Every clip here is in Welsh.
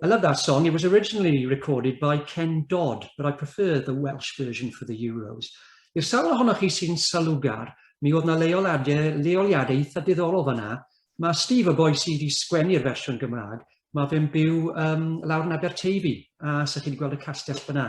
I love that song. It was originally recorded by Ken Dodd, but I prefer the Welsh version for the Euros. I'r sawl ohonoch chi sy'n salugar, mi oedd na leoliadau, leoliadau eitha diddorol fanna. Mae Steve, y boi sydd wedi sgwennu'r fersiwn Gymraeg, mae fe'n byw um, lawr yn Aberteifi, a sy'ch chi wedi gweld y castell fyna.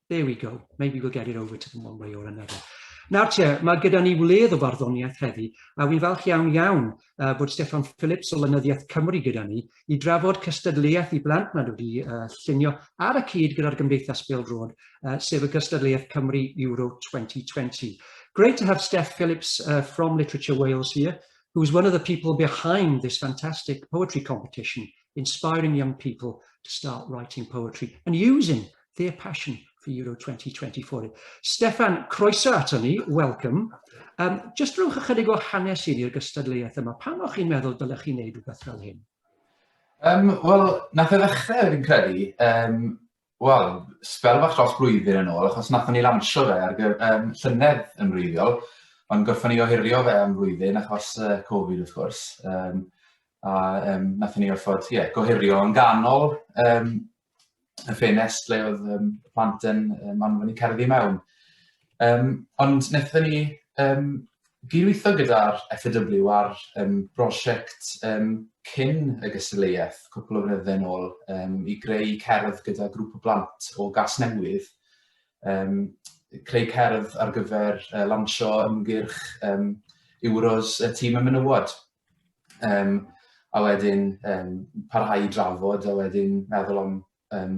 There we go. Maybe we'll get it over to them one way or another. Nawr te, mae gyda ni wledd o farddoniaeth heddi, a wy'n falch iawn iawn uh, bod Stefan Phillips o Lynyddiaeth Cymru gyda ni i drafod cystadleuaeth i blant nad wedi uh, llunio ar y cyd gyda'r Gymdeithas Bêl Drod, uh, sef y gystadleuaeth Cymru Euro 2020. Great to have Steph Phillips uh, from Literature Wales here, who's one of the people behind this fantastic poetry competition inspiring young people to start writing poetry and using their passion for Euro 2024. Stefan, croeso ato ni, welcome. Um, just rhywch ychydig o hanes i ni'r gystadleuaeth yma. Pam o'ch chi'n meddwl dylech chi'n neud rhywbeth fel hyn? Um, Wel, nath e ddechrau, fi'n credu, um, wel, sbel fach dros blwyddyn yn ôl, achos nathon ni lansio fe ar gyf- um, llynedd yn wreiddiol, ond gorffon ni ohirio fe am flwyddyn achos uh, Covid wrth gwrs. Um, a um, nathon ni orfod yeah, gohirio yn ganol um, y ffenest le oedd um, plant yn um, anfon i cerddi mewn. Um, ond wnaethon ni um, gydweithio gyda'r FAW ar um, brosiect um, cyn y gystadleuaeth cwpl o fynyddoedd yn ôl um, i greu cerdd gyda grŵp o blant o gas newydd, um, creu cerdd ar gyfer uh, lansio ymgyrch um, Euros y tîm y menywod. Um, a wedyn um, parhau i drafod a wedyn meddwl am um,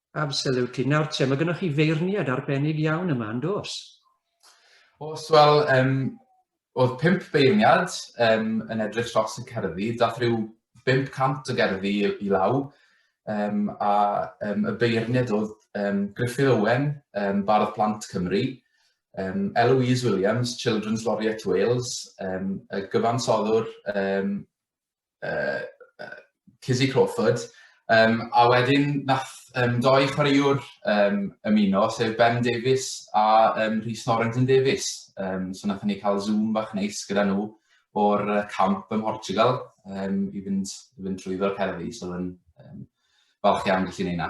Absolutely. Nawr te, mae gennych chi feirniad arbennig iawn yma, yn dos? Os, wel, um, oedd pimp beirniad um, yn edrych tros y cerddi, dath rhyw 500 o gerddi i, i law, um, a um, y beirniad oedd um, Griffith Owen, um, Bardd Plant Cymru, um, Eloise Williams, Children's Laureate Wales, um, y gyfansoddwr um, uh, uh, Kizzy Crawford, um, a wedyn nath um, doi chwaraewr um, ymuno, sef Ben Davies a um, Rhys Norrington Davies. Um, so nath ni cael zoom bach neis gyda nhw o'r camp ym Mhortugal um, i fynd, i fynd trwyddo'r cerddi, so yn um, falch iawn gallu neud na.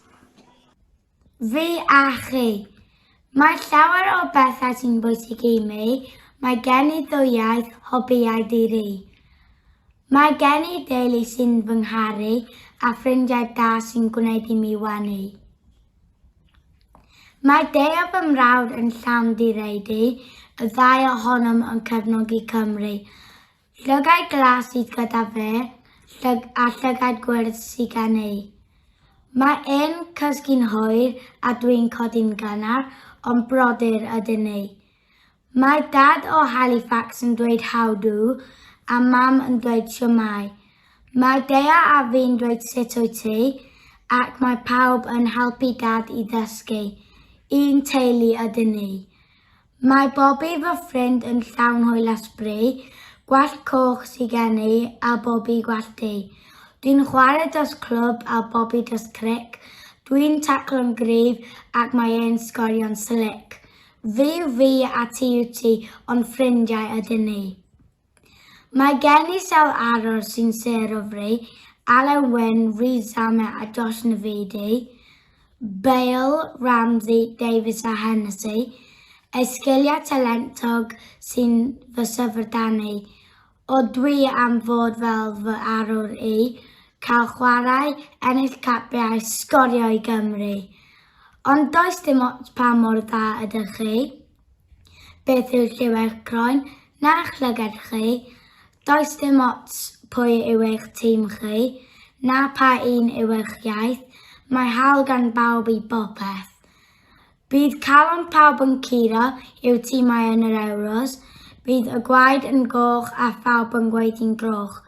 Fi a chi. Mae llawer o bethau sy'n bwysig i mi. Mae gen i ddwywaith hobïau di-ri. Mae gen i deulu sy'n fy ngharu a ffrindiau da sy'n gwneud i mi wenu. Mae deu o fy mrawd yn llawn direidi, y ddau ohonom yn cefnogi Cymru. Llygaid glas sydd gyda fe, llyg a llygaid gwyrdd sy gen ei. Mae e'n cysgu'n hoer a dwi'n codi'n gynnar, ond brodyr ydyn ni. Mae Dad o Halifax yn dweud how do a Mam yn dweud shwmae. Mae Dea a fi'n dweud sut wyt ti, ac mae pawb yn helpu Dad i ddysgu. Un teulu ydyn ni. Mae Bobby fy ffrind yn llawn hwyl a sbrei, gwallt coch sy gen i a Bobby gwallt du. Dwi'n chwarae dros clwb a Bobby dros cric, dwi'n taclo'n gryf ac mae e'n sgorio'n slic. Fi yw fi a ti yw ti ond ffrindiau ydyn ni. Mae gen i sawl arwr sy'n sêr o Fri, Alun Wyn, Rhys Zame a Josh Navidi, Bale, Ramsey, Davies a Hennessy, eu sgiliau talentog sy'n fy syfrdanu o dwi am fod fel fy arwr i, cael chwarae, ennill capiau, sgorio i Gymru. Ond does dim ots pa mor dda ydych chi. Beth yw Lleuad Croen? Na'ch llygad chi? Does dim ots pwy yw eich tîm chi, na pa un yw eich iaith, mae hawl gan bawb i bopeth. Bydd calon pawb yn curo i'w timau yn yr Ewros, bydd y gwaed yn goch a phawb yn gweiddi'n groch.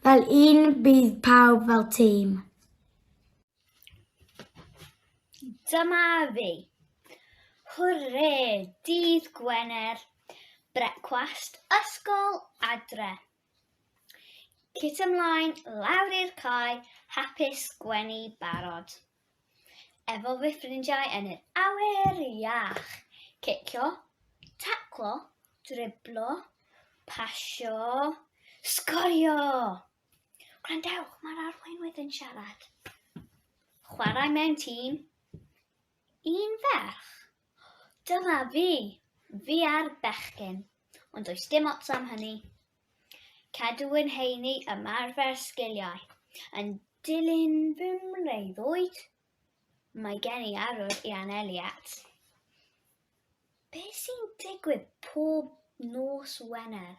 Fel un bydd pawb fel tîm. Dyma fi. Hwrê, dydd Gwener, brecwast, ysgol, adre. Cit ymlaen, lawr i'r cae, hapus, gwenu, barod. Efo fy ffrindiau yn yr awyr iach. Cicio, taclo, driblo, pasio, sgorio! Gwrandewch, mae'r arweinwyr yn siarad. Chwarae mewn tîm. Un ferch. Dyma fi. Fi ar bechgyn. Ond does dim ots am hynny. Cadw yn heini ymarfer sgiliau. Yn dilyn fy mreuddwyd, mae gen i arwr i anelu at. Be sy'n digwydd pob nos Wener?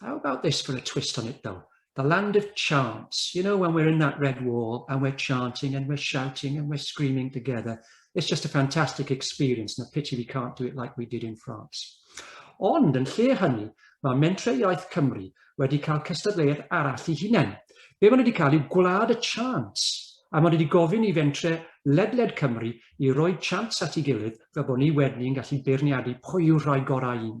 How about this for a twist on it though? The land of chants. You know, when we're in that red wall and we're chanting and we're shouting and we're screaming together, it's just a fantastic experience and a pity we can't do it like we did in France. Ond yn lle hynny, mae Mentre Iaith Cymru wedi cael cystadleuaeth arall i hunain. Be maen wedi cael yw gwlad y chants, a maen wedi gofyn i Fentre ledled Cymru i roi chants at ei gilydd fel bod ni wedyn yn gallu beirniadu pwy yw'r rhai gorau un.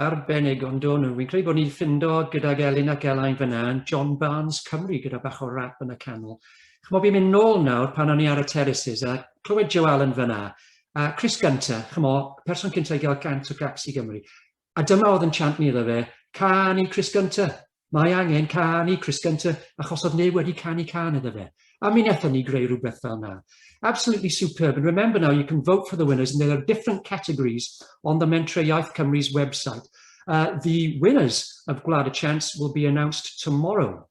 arbennig ond o'n nhw. Fi'n credu bod ni'n ffindo gydag Elin ac Elain fyna yn John Barnes Cymru gyda bach o rap yn y canol. Chymod, fi'n mynd nôl nawr pan o'n i ar y terraces a clywed Joe Allen fyna. A Chris Gunter, chymod, person cyntaf i gael gant o gaps i Gymru. A dyma oedd yn chant ni iddo fe, Cân i Crys Gynta! Mae angen cân i Crys Gynta! achos oedd neb wedi canu cân iddo fe. A mi wnaethon ni greu rhywbeth fel na. Absolutely superb and remember now you can vote for the winners and there are different categories on the Mentrau Iaith Cymru's website. Uh, the winners of Gwlad y Chants will be announced tomorrow.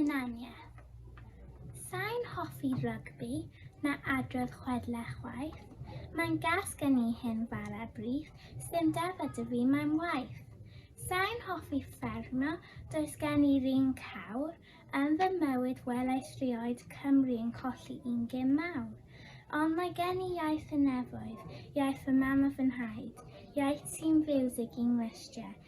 Hunaniaeth. Sain hoffi rygbi na adrodd chwedle chwaith. Mae'n gas gen i hyn fara brith, sdim defa dy fi mae'n waith. Sain hoffi ffermio, does gen i'r un cawr, yn fy mywyd welais rioed Cymru yn colli un gym mawr. Ond mae gen i iaith y nefoedd, iaith fy mam a fy nhaid, iaith sy'n fiwsig i'n nglustiau,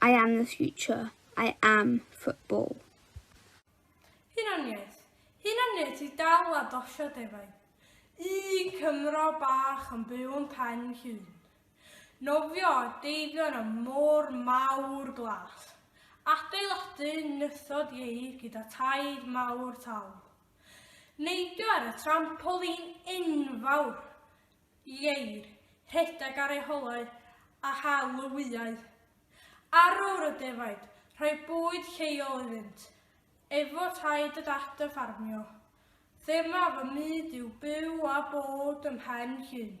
I am the future, I am football. Hunaniaeth, hunaniaeth i dal a dosio defaid. Un Cymro bach yn byw yn pen llun. Nofio a deifio yn y môr mawr glas. Adeiladu nythod ieir gyda taid mawr tal. Neidio ar y trampolin enfawr. Ieir, rhedeg ar ei holau a hel y wyau. Arwr y defaid, rhoi bwyd lleol iddynt. Efo taid a dad yn ffarmio. Thema fy myd yw byw a bod ym mhen llun.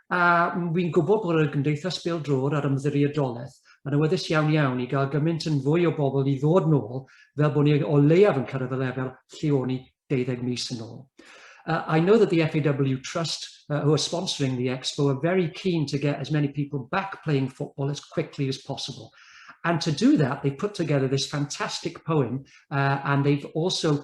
A wi'n gwybod bod y Gymdeithas Bêl Drod a'r Ymddiriedolaeth yn awyddus iawn iawn i gael gymaint yn fwy o bobl i ddod nôl fel bod ni o leiaf yn cyrraedd y lefel lle o'n ni 12 mis yn ôl. Uh, I know that the FAW Trust, uh, who are sponsoring the expo, are very keen to get as many people back playing football as quickly as possible. And to do that, they put together this fantastic poem, uh, and they've also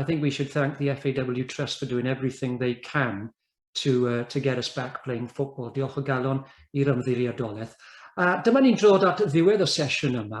I think we should thank the FAW Trust for doing everything they can to, uh, to get us back playing football. Diolch o galon i'r ymddiriedolaeth. A dyma ni'n drod at ddiwedd y sesiwn yma.